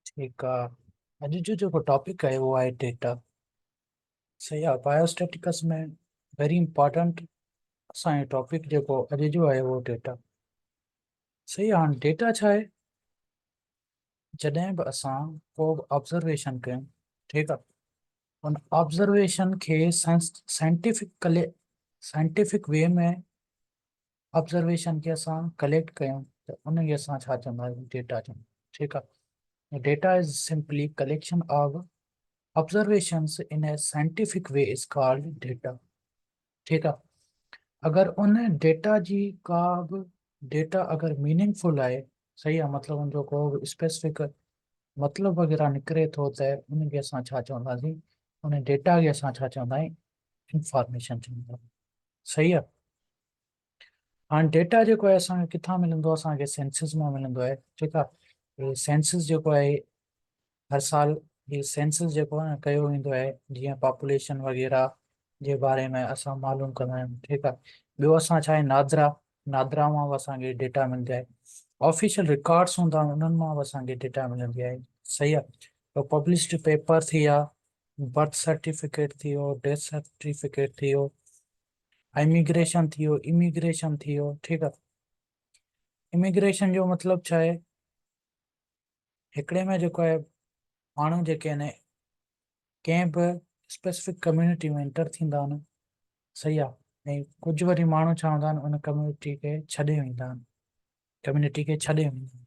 ٺيڪ آ اڄ جو جيڪو ٽاپڪ آهي اهو آهي ڊيٽا صحيح آ بايوسٽيٽڪس ۾ ويري امپارٽنٽ اسان جو ٽاپڪ جيڪو اڄ جو آهي اهو ڊيٽا صحيح آ هاڻ ڊيٽا ڇا آهي جڏهن به اسان ڪو به آبزرويشن ڪيون ٺيڪ آ ان آبزرويشن کي سائنٽيفڪلي سائنٽيفڪ وي ۾ آبزرويشن کي اسان ڪليڪٽ ڪيون ته ان کي اسان ڇا چوندا آهيون ڊيٽا چوندا ٺيڪ آ data is simply collection of observations in scientific way is called data ٺيڪ آ اگر ان ڊيٽا جي ڪا به ڊيٽا اگر ميننگ فل آهي صحيح آ مطلب ان جو ڪو به اسپيسفڪ مطلب وغيره نڪري ٿو ته ان کي اسان ڇا چونداسين ان ڊيٽا کي اسان ڇا چوندا آهيون انفارميشن چوندا آهيون صحيح آ هاڻ ڊيٽا جيڪو آهي اسان کي ڪٿان ملندو اسان کي سينسز مان ملندو آهي ٺيڪ آهي سينسز جيڪو آهي هر سال هي سينسز جيڪو آهي نه ڪيو ويندو آهي جيئن پاپوليشن وغيره جي باري ۾ اسان معلوم ڪندا آهيون ٺيڪ آهي ٻيو اسان ڇا آهي نادرا نادرا مان به اسان کي ڊيٽا ملندي آهي آفيشل رڪارڊس هوندا آهن انهن مان به اسان کي ڊيٽا ملندي آهي صحيح آهي تو پبلشڊ پيپر ٿي ويا برٿ سرٽيفڪيٽ ٿي ويو ڊيٿ سرٽيفڪيٽ ٿي ويو اميگريشن ٿيو Immigration ٿيو ٺيڪ آ اميگريشن جو مطلب ڇا آهي هڪڙي ۾ جيڪو آهي ماڻهو جيڪي آهن ڪنهن به اسپيسفڪ ڪميونٽي ۾ انٽر ٿيندا آهن صحيح آ ۽ ڪجهه وري ماڻهو ڇا هوندا آهن ان ڪميونٽي کي ڇڏي ويندا آهن ڪميونٽي کي ڇڏي ويندا آهن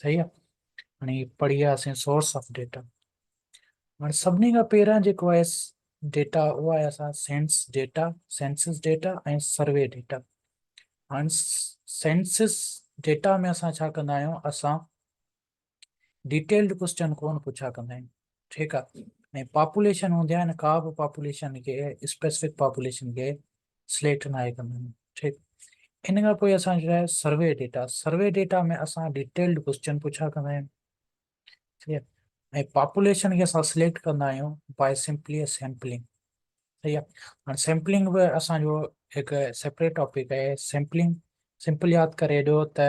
صحيح آ هاڻي پڙهي آياسين سورس آف ڊيٽا هاڻي سڀني کان پهريان جيڪو آهي ڊيٽا اهو آهي اسان census data census data ۽ survey data هاڻي سينسس ڊيٽا ۾ اسان ڇا ڪندا آهيون اسان ڊيٽيلڊ ڪوشچن ڪون پڇا ڪندا آهيون ٺيڪ آ ۽ پاپوليشن هوندي آهي نه ڪا به پاپوليشن کي اسپيسفڪ پاپوليشن کي سليڪٽ ناهي ڪندا آهن ٺيڪ ان کان پوء اسان جو آهي سروي ڊيٽا سروي ڊيٽا ۾ اسان ڊيٽيلڊ ڪوشچن پڇا ڪندا آهيون ٺيڪ آهي ۽ پاپوليشن کي اسان سليڪٽ ڪندا آهيون باء سمپلي سيمپلنگ صحيح آهي هاڻي سيمپلنگ به اسان جو هڪ سيپريٽ ٽاپڪ آهي سيمپلنگ سمپل ياد ڪري ڏيو ته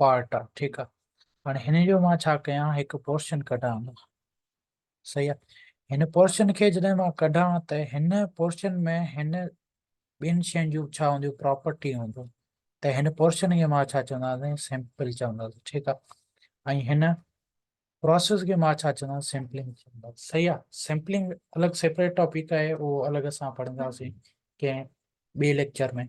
پارٽ آ ٺيڪ آ هاڻي هن جو مان ڇا ڪيان هڪ پورشن ڪڍان صحيح آ هن پورشن کي جڏهن مان ڪڍان ته هن پورشن ۾ هن ٻين شين جون ڇا هونديون پراپرٽي هونديون ته هن پورشن کي مان ڇا چونداسين سيمپل چونداسين ٺيڪ آ ۽ هن پراسيس کي مان ڇا چوندس سيمپلنگ چوندس صحيح آ سيمپلنگ الڳ سيپريٽ ٽاپڪ آهي اهو الڳ اسان پڙهنداسين ڪنهن ٻئي ليڪچر ۾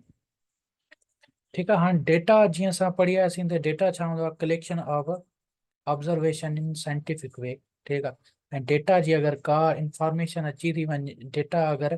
ٺيڪ آ هاڻ ڊيٽا جيئن اسان پڙهي آياسين ته ڊيٽا ڇا هوندو آهي collection of observation in scientific way ٺيڪ آ ۽ ڊيٽا جي اگر ڪا انفارميشن اچي ٿي وڃي ڊيٽا اگر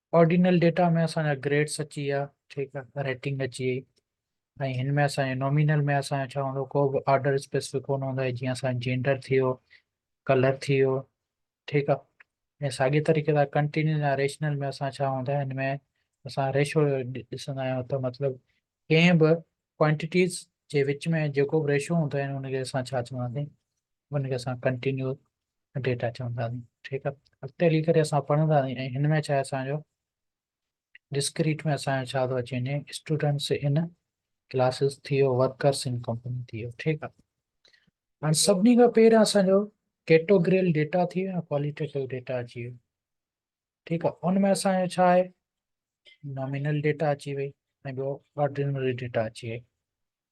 آرڊينل ڊيٽا ۾ اسان جا گريڊس اچي ويا ٺيڪ آ ريٽنگ اچي وئي ۽ هن ۾ اسان جي نومينل ۾ اسان ڇا هوندو ڪو به آرڊر اسپيسفڪ ڪون هوندو آهي جيئن اسان جينڊر ٿي ويو ڪلر ٿي ويو ٺيڪ آ ۽ ساڳي طريقي سان ڪنٽينيوس يا ريشنل ۾ اسان ڇا هوندا هن ۾ اسان ريشو ڏسندا آهيون ته مطلب ڪنهن به ڪوانٽيٽيز جي وچ ۾ جيڪو به ريشو هوندو آهي ان کي اسان ڇا چونداسين ان کي اسان ڪنٽينيو ڊيٽا چوندا آهن ٺيڪ آهي اڳتي هلي ڪري اسان پڙهندا آهن ۽ هن ۾ ڇا اسان جو ڊسڪريٽ ۾ اسان جو ڇا ٿو اچي وڃي اسٽوڊنٽس ان ڪلاسز ٿي ويو ورڪرس ان ڪمپني ٿي ويو ٺيڪ آهي هاڻي سڀني کان پهريان اسان جو ڪيٽوگريل ڊيٽا ٿي ويو ڪواليٽيو ڊيٽا اچي ويو ٺيڪ آهي ان ۾ اسان جو ڇا نامينل ڊيٽا اچي وئي ۽ ٻيو آرڊينري ڊيٽا اچي وئي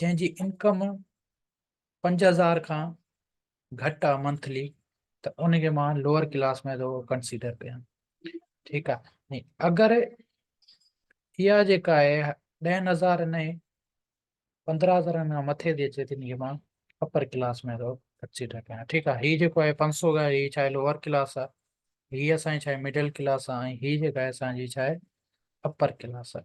جنهن جي انڪم پنج هزار کان گهٽ آ منٿلي ته ان کي مان لوئر ڪلاس ۾ ٿو ڪنسيڊر ڪيان ٺيڪ آ اگر اها جيڪا آهي ڏهن هزارن ۽ پندرهن هزارن کان مٿي ٿي اچي تن کي مان اپر ڪلاس ۾ ٿو ڪنسيڊر ڪيان ٺيڪ آ هي جيڪو آهي پنج سؤ گهر هي ڇا آهي لوئر ڪلاس آ هي اسان جي ڇا آهي مڊل ڪلاس آ ۽ هي جيڪا آهي اسان جي ڇا آهي اپر ڪلاس آ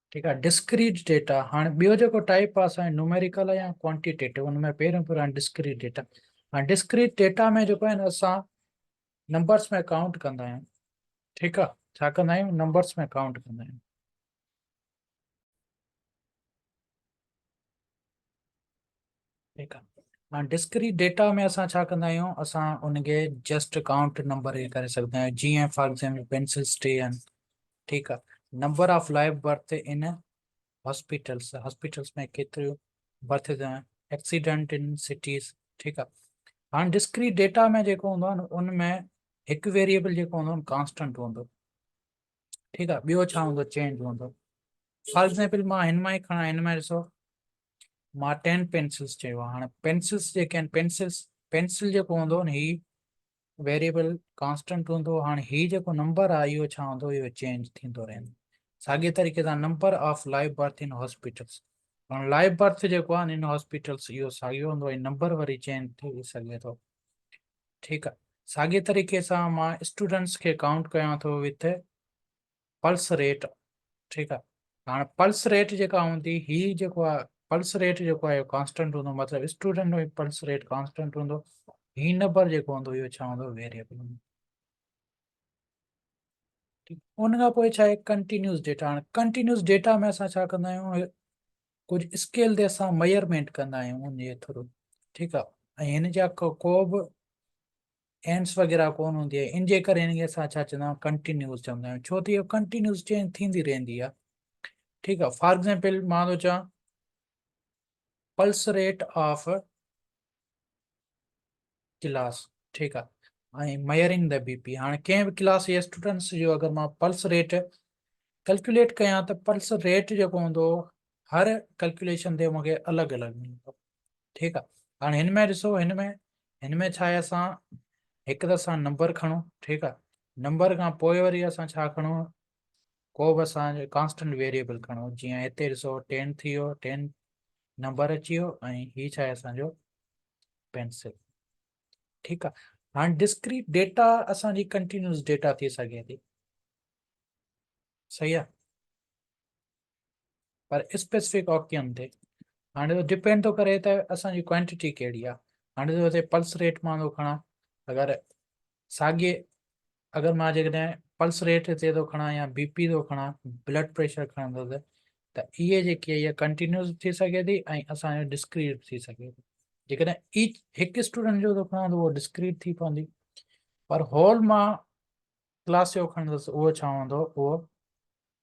ٺيڪ آهي ڊسڪريٽ ڊيٽا هاڻي ٻيو جيڪو ٽائپ آهي سائين نوميريڪل يا ڪوانٽيٽيو ان ۾ پهريون پهريون آهي ڊسڪريٽ ڊيٽا هاڻي ڊسڪريٽ ڊيٽا ۾ جيڪو آهي اسان نمبرس ۾ ڪائونٽ ڪندا آهيون ٺيڪ آهي ڇا ڪندا آهيون نمبرس ۾ ڪائونٽ ڪندا آهيون ٺيڪ آ هاڻي ڊسڪريٽ ڊيٽا ۾ اسان ڇا ڪندا آهيون اسان ان کي جسٽ ڪائونٽ نمبر هي ڪري سگهندا آهيون جيئن فار ايگزامپل پينسل اسٽي آهن ٺيڪ آ number of life birth in hospitals hospitals ۾ ڪيتريون برٿ ايڪسيڊنٽ ان سٽيز ٺيڪ آ هاڻي ڊسڪريٽ ڊيٽا ۾ جيڪو هوندو آهي نه ان ۾ هڪ ويريبل جيڪو هوندو آهي ڪانسٽنٽ هوندو ٺيڪ آ ٻيو ڇا هوندو چينج هوندو فار ايگزامپل مان هن مان ئي کڻا هن ۾ ڏسو مارٽين پينسلس چيو آهي هاڻي پينسلس جيڪي آهن پينسلس پينسل جيڪو هوندو نه هي ويريبل ڪانسٽنٽ هوندو هاڻي هي جيڪو نمبر آهي اهو ڇا هوندو اهو چينج ٿيندو رهندو ساڳي طريقي سان number of life birth in hospitals هاڻي لائف برٿ جيڪو آهي ان هاسپيٽلس اهو ساڳيو هوندو ۽ نمبر وري چينج ٿي سگهي ٿو ٺيڪ آهي ساڳي طريقي سان مان اسٽوڊنٽس کي ڪائونٽ ڪيان ٿو وٿ پلس ريٽ ٺيڪ آ هاڻ پلس ريٽ جيڪا هوندي هي جيڪو آ پلس ريٽ جيڪو آ اهو ڪانسٽنٽ هوندو مطلب اسٽوڊنٽ ۾ پلس ريٽ ڪانسٽنٽ هوندو هي نمبر جيڪو هوندو اهو ڇا هوندو ويريبل هوندو ان کان پوء ڇا آهي ڪنٽينيوس ڊيٽا هاڻ ڪنٽينيوس ڊيٽا ۾ اسان ڇا ڪندا آهيون ڪجهه اسڪيل تي اسان ميئرمينٽ ڪندا آهيون ان جي ٿرو ٺيڪ آ ۽ هن جا ڪو به اينڊس وغيره ڪون هوندي آهي ان جي ڪري هن کي اسان ڇا چوندا آهيون ڪنٽينيوز چوندا آهيون ڇو ته اهو ڪنٽينيوز چينج ٿيندي رهندي آهي ٺيڪ آهي فار ايگزامپل مان ٿو چوان پلس ريٽ آف ڪلاس ٺيڪ آهي ۽ ميئرنگ د بي پي هاڻي ڪنهن به ڪلاس يا اسٽوڊنٽس جو اگر مان پلس ريٽ ڪلڪوليٽ ڪيان ته پلس ريٽ جيڪو هوندو هر ڪلڪوليشن تي مونکي الڳ الڳ ملندو ٺيڪ آ هاڻي هن ۾ ڏسو هن ۾ هن ۾ ڇا آهي اسان هڪ ته اسان نمبر کڻو ٺيڪ آ نمبر کان پوء وري اسان ڇا کڻو ڪو به اسان ڪانسٽنٽ ويريبل کڻو جيئن هتي ڏسو ٽين ٿي ويو ٽين نمبر اچي ويو ۽ هي ڇا آهي اسانجو پينسل ٺيڪ آ هاڻي ڊسڪريٽ ڊيٽا اسانجي ڪنٽينيوس ڊيٽا ٿي سگهي ٿي صحيح آ پر اسپيسفڪ آڪٽيم تي هاڻي اهو ڊپينڊ ٿو ڪري ته اسان جي ڪوانٽيٽي ڪهڙي آهي هاڻي ته هتي پلس ريٽ مان ٿو کڻان اگر ساڳي اگر مان جيڪڏهن پلس ريٽ هتي ٿو کڻان يا بي پي ٿو کڻان بلڊ پريشر کڻندس ته اهي جيڪي اها ڪنٽينيوز ٿي سگهي ٿي ۽ اسانجو ڊسڪريٽ ٿي سگهي ٿي جيڪڏهن ايچ هڪ اسٽوڊنٽ جو ٿو کڻان ته اهو ڊسڪريٽ ٿي پوندي پر هول مان ڪلاس جو کڻندس اهو ڇا هوندو اهو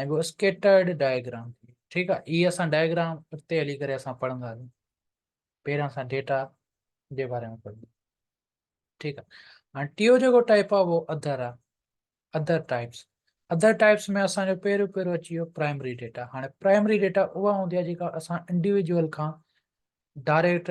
۽ ٻيو اسڪيٽرڊ ڊائگرام ٿئي ٺيڪ آهي هي اسان ڊائگرام اڳتي هلي ڪري اسان پڙهنداسين پهريان اسان ڊيٽا جي باري ۾ پڙهنداسين ٺيڪ آهي هاڻي ٽيو جيڪو ٽائپ آهي اهو اڌر آهي اڌر ٽائپس ادر ٽائپس ۾ اسانجو پهريون پهريون اچي ويو پرائمري ڊيٽا هاڻي پرائمري ڊيٽا اها هوندي آهي جيڪا اسان انڊيويجول کان ڊائريڪٽ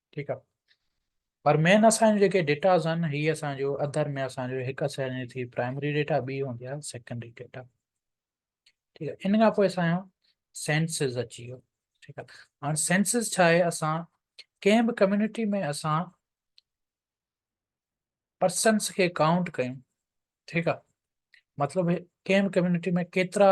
ٺيڪ آ پر مين اسان جو جيڪي ڊيٽاز آهن هي اسان جو اڌر ۾ اسان جو هڪ اسان جي ٿي پرائمري ڊيٽا ٻي هوندي آهي سيڪنڊري ڊيٽا ٺيڪ آ ان کان پوء اسان جو سينسز اچي ويو ٺيڪ آ هاڻ سينسز ڇا آهي اسان ڪنهن به ڪميونٽي ۾ اسان پرسنس کي ڪائونٽ ڪيون ٺيڪ آ مطلب ڪنهن به ڪميونٽي ۾ ڪيترا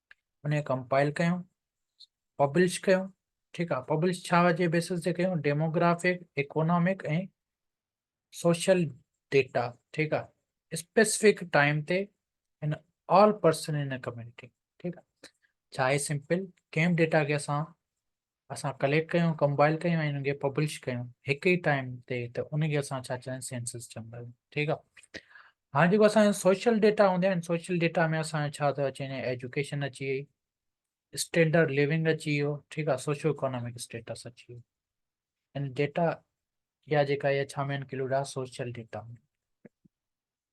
ان کي ڪمپائل ڪيون پبلش ڪيون ٺيڪ آهي پبلش ڇا جي بيسس تي ڪيون ڊيموگرافڪ اڪونامڪ ۽ سوشل ڊيٽا ٺيڪ آهي اسپيسفڪ ٽائيم تي in all person in community ٺيڪ آهي ڇا اهي سمپل ڪنهن ڊيٽا کي اسان اسان ڪليڪٽ ڪيون، ڪمبائل ڪيون ۽ انهن کي پبلش ڪيون هڪ ئي ٽائيم تي ته ان کي اسان ڇا چوندا آهيون سينسس چوندا آهيون ٺيڪ آهي هاڻي جيڪو اسان سوشل ڊيٽا هوندا آهن سوشل ڊيٽا ۾ اسان ڇا ٿو اچي وڃي ايجوڪيشن اچي وئي اسٽينڊرڊ ليونگ اچي ويو ٺيڪ آهي سوشو اڪانامڪ اسٽيٽس اچي ويو ان ڊيٽا يا جيڪا اها ڇا ۾ انڪلوڊ آهي سوشل ڊيٽا ۾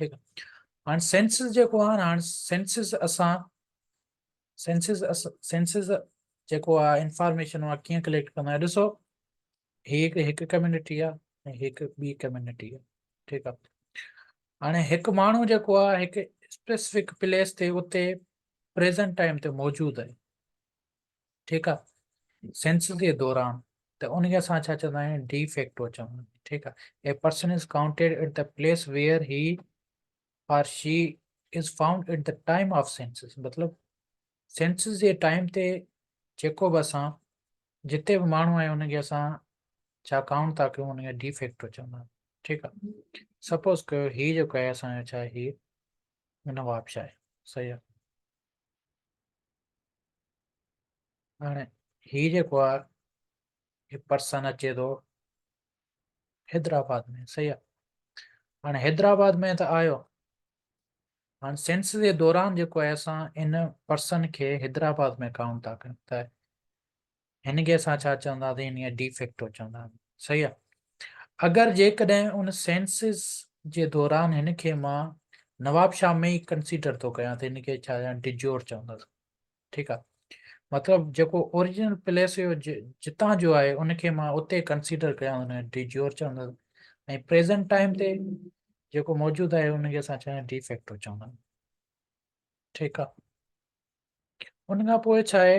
ٺيڪ آ هاڻ سينسز جيڪو آ هاڻ سينسز اسان سينسز سينسز جيڪو آ انفارميشن آ ڪيئن ڪليڪٽ ڪندا آهيون ڏسو هي هڪ ڪميونٽي آ ۽ هڪ ٻي ڪميونٽي آ ٺيڪ آ هاڻي هڪ ماڻهو جيڪو آ هڪ اسپيسيفڪ پليس تي اتي پريزنٽ ٽائيم تي موجود آهي ٺيڪ آ سينسس جي دوران ته انهي کي اسان ڇا چوندا آهيون ڊي فيڪٽو چوندا آهيون ٺيڪ آ a person is counted at the place where he or she is found at the time of census مطلب سينسس جي ٽائيم تي جيڪو به اسان جتي به ماڻهو آهي ان کي اسان ڇا ڪائونٽ ٿا ڪيون ان کي ڊي فيڪٽو چوندا آهيون ٺيڪ آ سپوز ڪيو هي جيڪو آهي اسان جو ڇا آهي هي نواب شاهه صحيح آ هاڻي هي جيڪو آ هي پرسن اچي ٿو حيدرآباد ۾ صحيح آ هاڻي حيدرآباد ۾ ته آيو هاڻي سينس جي دوران جيڪو آهي اسان ان پرسن کي حيدرآباد ۾ ڪائونٽ ٿا ڪيون ته هن کي اسان ڇا چونداسين هن کي ڊي فيڪٽو چونداسين صحيح آ اگر جيڪڏهن ان سينسز جي دوران هن کي مان نواب شاهه ۾ ئي ڪنسيڊر ٿو ڪيان ته هن کي ڇا چوان ڊجور چوندس ٺيڪ آ مطلب جيڪو اوريجنل پليس هيو جتان جو آهي ان کي مان اتي ڪنسيڊر ڪيان هن کي ڊجور چوندس ۽ پريزنٽ ٽائيم تي جيڪو موجود آهي ان کي اسان چوان ڊي فيڪٽو چوندا ٺيڪ آ ان کان پوء ڇا آهي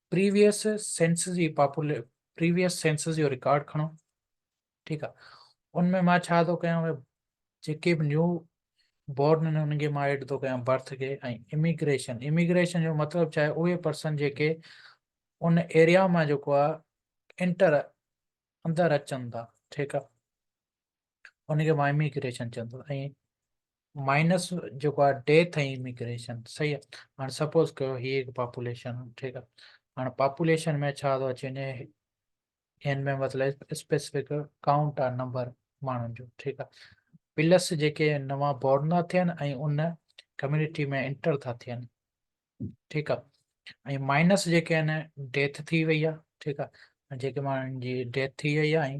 پريويس سينس جي پاپولي پريويس سينس جو رڪارڊ کڻو ٺيڪ آ ان ۾ مان ڇا ٿو ڪيان ڀاء جيڪي به نيو بورن آهن انهن کي مان ايڊ ٿو ڪيان برٿ کي ۽ اميگريشن اميگريشن جو مطلب ڇا آهي اهي پرسن جيڪي ان ايريا مان جيڪو آ انٽر اندر اچن ٿا ٺيڪ آ ان کي مان اميگريشن چوندو ۽ مائنس جيڪو آهي ڊيٿ ۽ اميگريشن صحيح آهي هاڻي سپوز ڪيو هي هڪ پاپوليشن ٺيڪ آهي هاڻي پاپوليشن ۾ ڇا ٿو اچي وڃي هن ۾ مطلب اسپيسفڪ ڪائونٽ آهي نمبر ماڻهن جو ٺيڪ آهي پلس جيڪي نوان بورن ٿا ٿين ۽ ان ڪميونٽي ۾ انٽر ٿا ٿين ٺيڪ آهي ۽ مائنس جيڪي آهن ڊيٿ ٿي وئي آهي ٺيڪ آهي جيڪي ماڻهن جي ڊيٿ ٿي وئي آهي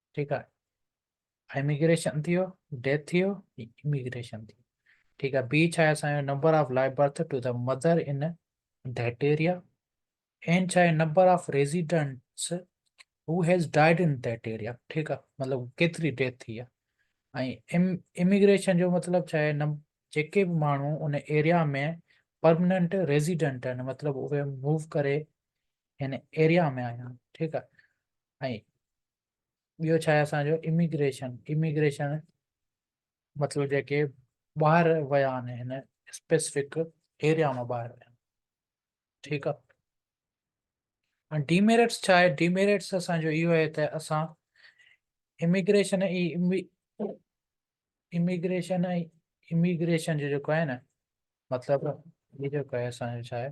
ٺيڪ آ اميگريشن ٿيو ڊيٿ ٿيو اميگريشن ٿيو ٺيڪ آ بي ڇا آهي اسان جو number of life birth to the mother in that area and ڇا آهي number of residents who has died in that area ٺيڪ آ مطلب ڪيتري ڊيٿ ٿي آ ۽ اميگريشن جو مطلب ڇا آهي جيڪي به ماڻهو ان ايريا ۾ پرمننٽ ريزيڊنٽ آهن مطلب اهي موو ڪري هن ايريا ۾ آيا آهن ٺيڪ آ ۽ ٻيو ڇا آهي اسان جو اميگريشن اميگريشن مطلب جيڪي ٻاهر ويا آهن هن اسپيسفڪ ايريا مان ٻاهر ويا ٺيڪ آهي ۽ ڊيميريٽس ڇا آهي ڊيميريٽس اسان جو اهو آهي ته اسان اميگريشن اي اميگريشن اي اميگريشن جو جيڪو آهي نه مطلب هي جيڪو آهي اسان جو ڇا آهي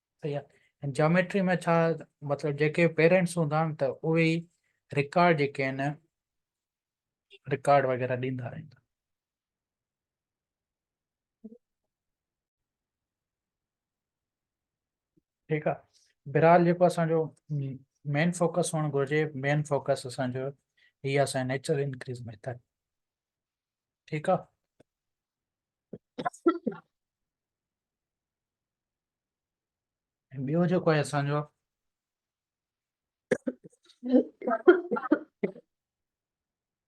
صحيح آ جاميٽري ۾ ڇا مطلب جيڪي پيرنٽس هوندا آهن ته اهي ئي رڪارڊ جيڪي آهن رڪارڊ وغيره ڏيندا آهن ٺيڪ آ بهرحال جيڪو اسان جو مين فوڪس هئڻ گهرجي مين فوڪس اسان جو هي اسان نيچرل انڪريز ميٿڊ ٺيڪ آ ٻيو جيڪو آهي اسان جو